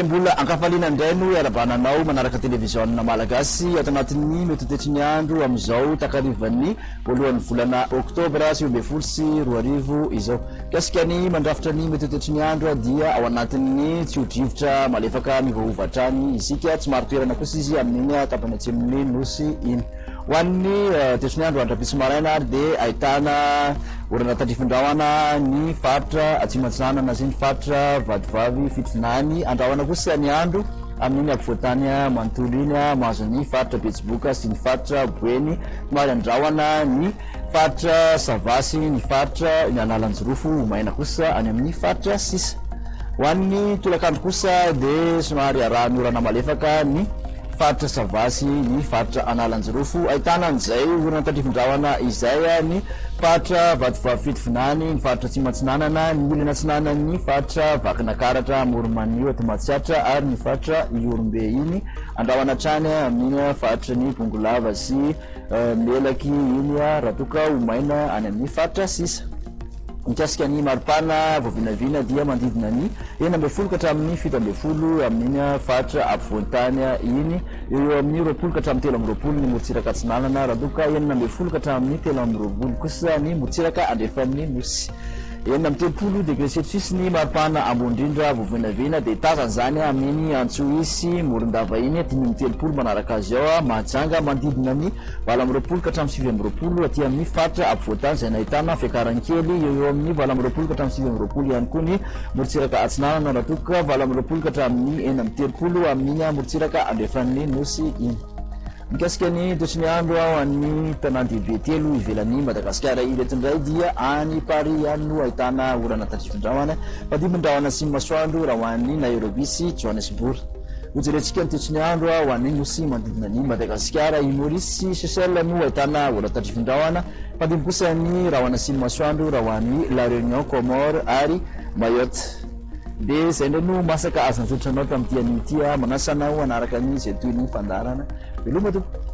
mbola ankafaliana indray no iarabana anao manaraka televiziona malagasy ato anatin'ny metotetry ny andro amin'izao takarivan'ny voalohan'ny volana oktobra sivy ambin'ny folo sy roa arivo izao. Mikasika ny mandrafitra ny mety ho toetry ny andro dia ao anatin'ny tsio-drivotra malefaka miovaova hatrany isika. Tsy marin-toerana kosa izy amin'iny tapany atsimon'ny Nosy iny. Ho an'ny toetry ny andro andro-ampitso maraina ary dia ahitana orana tandrifin-drahona ny faritra Atsimo Atsinanana sy ny faritra Vatovavy Fitovinany. Ny andrahona kosa ny andro amin'iny ampovoan-tany manontolo iny mahazo ny faritra Betsiboka sy ny faritra Boeny. Somary andrahona ny faritra sava sy ny faritra eny Analanjirofo ho maina kosa any amin'ny faritra sisa. Ho an'ny tolakandro kosa dia somary arahan'orana malefaka ny faritra sava sy ny faritra Analanjirofo, ahitana an'izay orana tandrifin-drahona izay any faritra Vatovavy-Fitovinany, ny faritra Atsimo Atsinanana, ny ilany atsinanan'ny faritra Vakinakaratra, Amoronmanio, Atomatsiatra ary ny faritra Ihorombe iny. Andrahona hatrany amin faritry ny Bongolava sy Melaky iny raha toa ka ho maina any amin ny faritra sisa. Mikasika ny maripana voavinavina dia manodidina ny enina ambin'ny folo ka hatramin ny fito ambin'ny folo amin iny faritra apovoan-tany iny. Eo eo amin ny roapolo ka hatramin telo amby roapolo ny morontsiraka atsinanana raha toa ka enina ambin'ny folo ka hatramin ny telo amby roapolo kosa ny morontsiraka andrefan ny Nosy. Enina amby telopolo degre celcius ny maripana ambony indrindra vao vinavina dia tazana izany amin'iny Antsohihy sy Morondava iny, dimy amby telopolo manaraka azy ao, Mahajanga manodidina ny valo amby roapolo ka hatramin'ny sivy amby roapolo aty amin'ny faritra afovoan-tany izay nahitana fiakarany kely eo eo amin'ny valo amby roapolo ka hatramin'ny sivy amby roapolo ihany koa ny morontsiraka atsinanana raha toa ka valo amby roapolo ka hatramin'ny enina amby telopolo amin'iny morontsiraka andrefan'ny Nosy iny. Mikasika ny toetry ny andro ao amin'ny tanàn-dehibe telo ivelan'i Madagasikara ireto indray dia any Paris any no ahitana orana tandrifin-drahona, mifandimby-drahona sy masoandro raha ho an'i Nairobi sy Johannesburg. Hojerentsika ny toetry ny andro ho an'ny nosy manodidina an'i Madagasikara. I Maurice sy Seychelles no ahitana orana tandrifin-drahona, mifandimby kosa ny rahona sy ny masoandro raha ho an'i La Réunion, Comores ary Mayotte. Dia izay indray no masaka azo anjotra anao tamin'ity anio ity aho manasa anao hanaraka ny izay toy ny fandaharana. Veloma tompoko.